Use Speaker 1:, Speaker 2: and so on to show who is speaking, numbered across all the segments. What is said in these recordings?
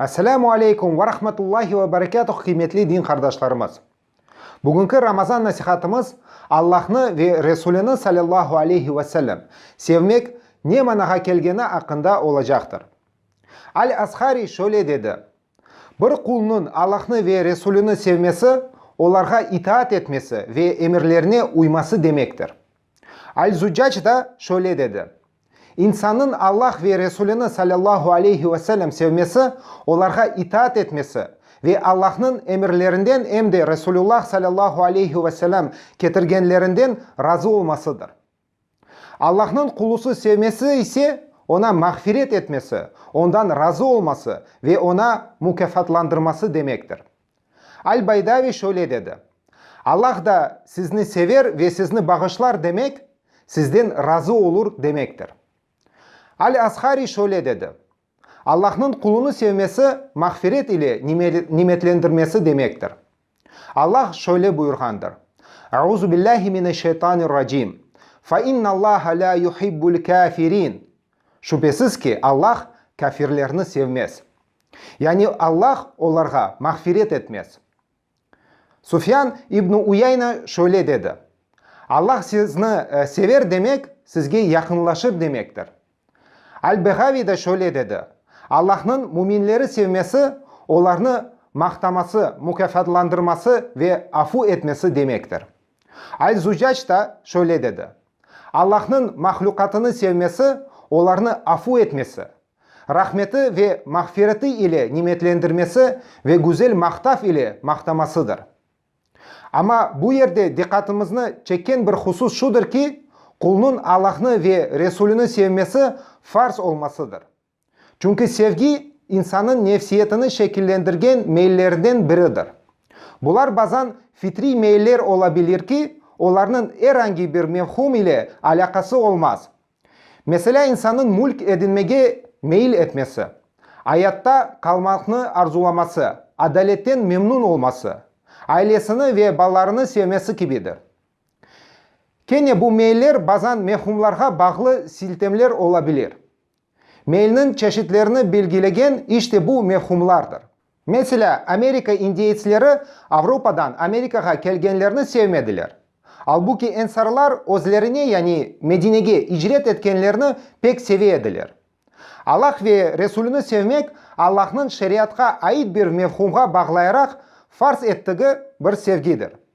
Speaker 1: Esselamu aleykum ve rahmetullahi ve berekatuh qıymetli din qardaşlarımız! Bugünki Ramazan nasihatımız Allahnı ve Resulini sallallahu aleyhi ve sellem sevmek ne manağa kelgeni aqqında olacaqtır. Al-Ashari şöyle dedi, Bir qulnıñ Allahnı ve Resulini sevmesi, olarğa itaat etmesi ve emirlerine uyması demektir. Al-Zuccac da şöyle dedi, İnsannıñ Allah ve Resulini salâllahu aleyhi ve sellem sevmesi, olarğa itaat etmesi ve Allahnıñ emirlerinden em de Resulullah salâllahu aleyhi ve sellem ketirgenlerinden razı olmasıdır. Allahnıñ qulusı sevmesi ise, oña mağfiret etmesi, ondan razı olması ve oña mukâfatlandırması demektir. Al-Baydaviy şöyle dedi, Allah da sizni sever ve sizni bağışlar demek, sizden razı olur demektir. Al-Azhari şöyle dedi, Allahnıñ qulunı sevmesi mağfiret ile nimetlendirmesi demektir. Allah şöyle buyurğandır, Euzubillâhi mineşşeytanirracim, Fe innallâhe lâ yuhibbul kâfirin, Şübesiz ki, Allah kâfirlerni sevmez. Yani Allah olarğa mağfiret etmez. Sufyan ibn Uyayna şöyle dedi, Allah sizni sever demek, sizge yaqınlaşır demektir. Al-Beğaviy de şöyle dedi, Allahnıñ müminleri sevmesi, olarnı maqtaması, mukâfatlandırması ve afu etmesi demektir. Al-Zucac da şöyle dedi, Allahnıñ mahlukatını sevmesi, olarnı afu etmesi, Rahmeti ve mağfireti ile nimetlendirmesi ve güzel maqtav ile maqtamasıdır. Amma bu yerde diqqatımıznı çekken bir husus şudır ki, qulnıñ Allahnı ve Resulüni sevmesi farz olmasıdır. Çünki sevgi insannıñ nefsiyetini şekillendirgen meyillerinden biridir. Bular bazan fitriy meyiller ola bilir ki, olarnıñ er angi bir mevhum ile alâqası olmaz, Meselâ, insannıñ mülk edinmege meyil etmesi, ayatta qalmaqnı arzulaması, adaletten memnun olması, ailesini ve balalarını sevmesi kibidir. Kene bu meyiller bazan mehumlarğa bağlı siltemler ola bilir. Meyilniñ çeşitlerini belgilegen işte bu mehumlardır. Meselâ, Amerika indeyetsleri Avropadan Amerikağa kelgenlerni sevmediler. Albuki ensarlar özlerine, yani Medinege icret etkenlerni pek seve ediler. Allah ve Resulüni sevmek Allahnıñ şeriatqa ait bir mefhumğa bağlayaraq farz ettigi bir sevgidir.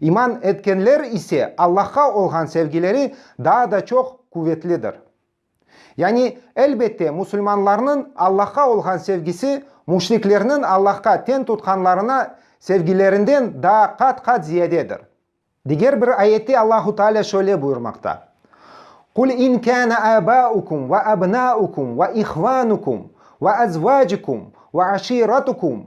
Speaker 1: İman etkenler ise Allahqa olğan sevgileri daa da çoq quvetlidir. Yani, elbette, musulmanlarnıñ Allahqa olğan sevgisi müşriklerniñ Allahqa teñ tutqanlarına sevgilerinden daa qat-qat ziyadedir. Diger bir ayette Allahu Teala şöyle buyurmaqta, Qul in kâne âbâukum ve abnâukum ve ihvânukum ve ezvâcukum ve aşîratukum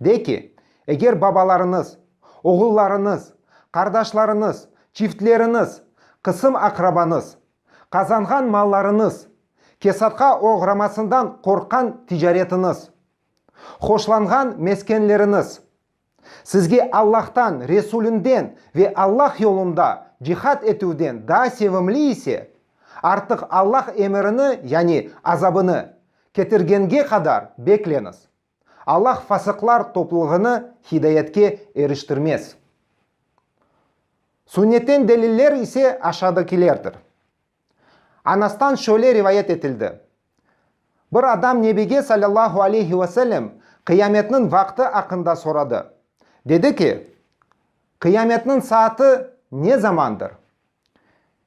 Speaker 1: De ki, eger babalarıñız, oğullarıñız, qardaşlarıñız, çiftleriñiz, qısım-aqrabañız, qazanğan mallarıñız, kesatqa oğramasından qorqqan ticaretiñiz, hoşlanğan meskenleriñiz, sizge Allahtan, Resulinden ve Allah yolunda cihad etüvden daa sevimli ise, artıq Allah emirini, yani azabını, ketirgenge qadar bekleñiz. Allah fasıqlar toplulığını hidayetke eriştirmez. Sünnetten deliller ise aşadakilerdir. Anastan şöyle rivayet etildi, Bir adam Nebige sallallahu aleyhi ve sellem qıyametniñ vaqtı aqqında soradı. Dedi ki, Qıyametniñ saatı ne zamandır?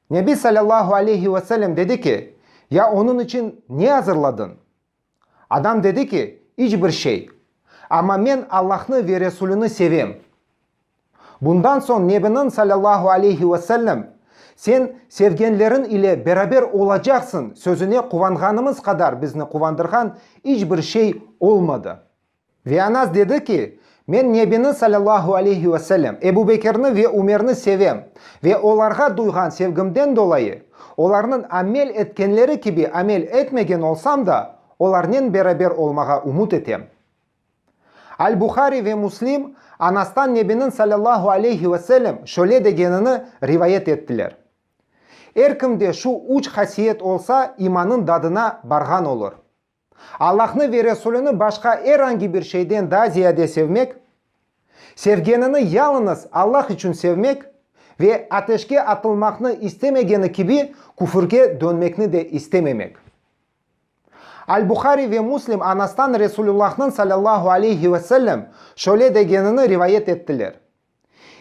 Speaker 1: Nebi sallallahu aleyhi ve sellem dedi ki, Ya onıñ içün ne azırladıñ? Adam dedi ki, İç bir şey. Amma men Allahnı ve Resulüni sevem. Bundan soñ Nebiniñ, salâllahu aleyhi ve sellem, Sen sevgenleriñ ile beraber olacaqsıñ sözüne quvanğanımız qadar bizni quvandırğan iç bir şey olmadı. Ve Anas dedi ki, Men Nebini, salâllahu aleyhi ve sellem, Ebu Bekirni ve Ümerni sevem. Ve olarğa duyğan sevgimden dolayı, olarnıñ amel etkenleri kibi amel etmegen olsam da, olarnen beraber olmağa ümüt etem. Al-Buhari ve Muslim Anastan Nebiniñ, salâllahu aleyhi ve sellem, şöyle degenini rivayet ettiler, Er kimde şu üç hasiyet olsa, imanıñ dadına barğan olur. Allahnı ve Resulini başqa er angi bir şeyden daa ziyade sevmek, sevgenini yalıñız Allah içün sevmek ve ateşke atılmaqnı istemegeni kibi küfürge dönmekni de istememek. Al-Buhari ve Muslim anastan Resulullah'nıñ sallallahu aleyhi ve sellem şöyle degenini rivayet ettiler.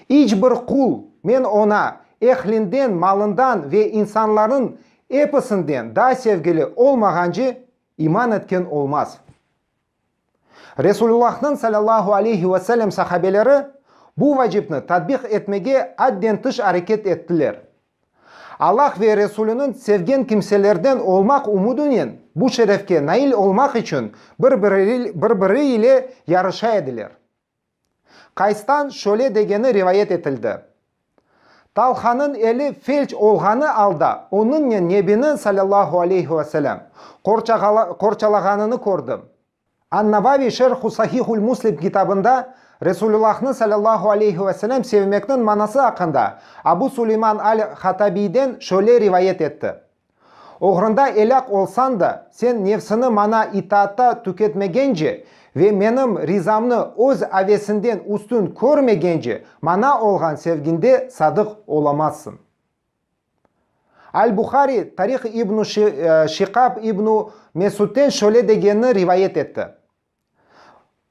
Speaker 1: İç bir qul, men oña, ehlinden, malından ve insanlarnıñ episinden daa sevgili olmağance iman etken olmaz. Resulullahnıñ salâllahu aleyhi ve sellem sahabeleri bu vacipni tatbiq etmege adden tış areket ettiler. Allah ve Resuliniñ sevgen kimselerden olmaq umudinen bu şerefke nail olmaq içün bir-biri ile yarışa ediler. Qaystan şöyle degeni rivayet etildi, Talhanıñ eli felç olğanı alda onıñnen Nebini, salâllahu aleyhi ve selâm, qorçalağanını kördim. An-Navaviy Şerh-u Sahih-ül Muslim kitabında Resulullahnı, salâllahu aleyhi ve selâm, sevmekniñ manası aqqında Abu Suleyman al-Hatabiyden şöyle rivayet etti, Oğrunda elâk olsañ da, sen nefsiñi maña itaatta tüketmegence ve menim rizamnı öz avesiñden üstün körmegence maña olğan sevgiñde sadıq olamazsıñ. Al-Buhari Tarih ibn-u Şiqab ibn-u Mesudten şöyle degenini rivayet etti.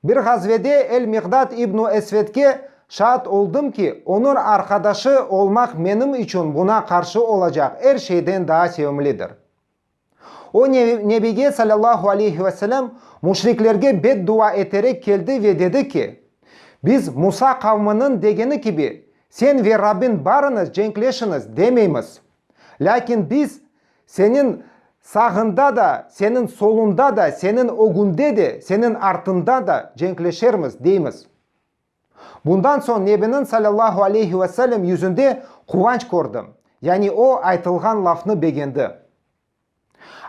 Speaker 1: Bir ğazvede El-Miqdad ibn-u Esvedke şaat oldım ki, onıñ arqadaşı olmaq menim içün buña qarşı olacaq er şeyden daa sevimlidir. O, Nebige salâllahu aleyhi ve selem müşriklerge beddua eterek keldi ve dedi ki, Biz Musa qavminiñ degeni kibi, Sen ve Rabbiñ barıñız cenkleşiñiz, demeymiz. Lâkin biz Seniñ sağında da, Seniñ solunda da, Seniñ ögünde de, Seniñ artıñda da cenkleşermiz, deymiz. Bundan soñ Nebiniñ salâllahu aleyhi ve sellem yüzünde quvanç kördim, yani o aytılğan lafnı begendi.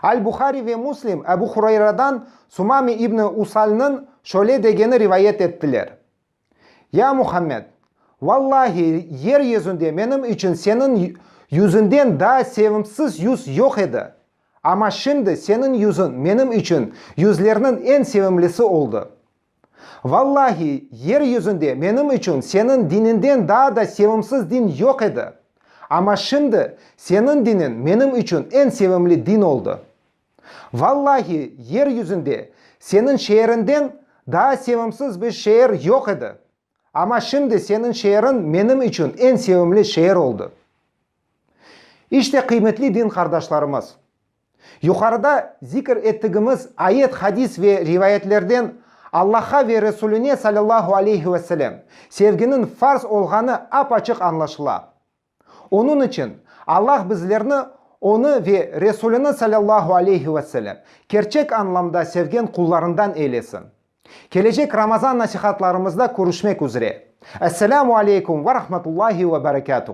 Speaker 1: Al-Buhari ve Muslim Ebu Hurayradan Sumame ibni Usalnıñ şöyle degeni rivayet ettiler, Ya Muhammed! Vallahi, yer yüzünde menim içün seniñ yüzüñden daa sevimsiz yüz yoq edi, amma şimdi seniñ yüzüñ menim içün yüzlerniñ eñ sevimlisi oldı. Vallahi, yer yüzünde menim içün seniñ diniñden daa da sevimsiz din yoq edi. Amma şimdi seniñ diniñ menim içün eñ sevimli din oldı. Vallahi, yer yüzünde seniñ şeeriñden daa sevimsiz bir şeer yoq edi. Amma şimdi seniñ şeeriñ menim içün eñ sevimli şeer oldı. İşte, qıymetli din qardaşlarımız! Yuqarıda zikir ettigimiz ayet, hadis ve rivayetlerden Allah'a ve Resuline salâllahu aleyhi ve selem sevginiñ farz olğanı ap-açıq añlaşıla. Onıñ içün Allah bizlerni Onı ve Resulini salâllahu aleyhi ve selem kerçek añlamda sevgen qullarından eylesin. Kelecek Ramazan nasihatlarımızda körüşmek üzre. Esselamu aleykum ve rahmetullahi ve berekâtuh.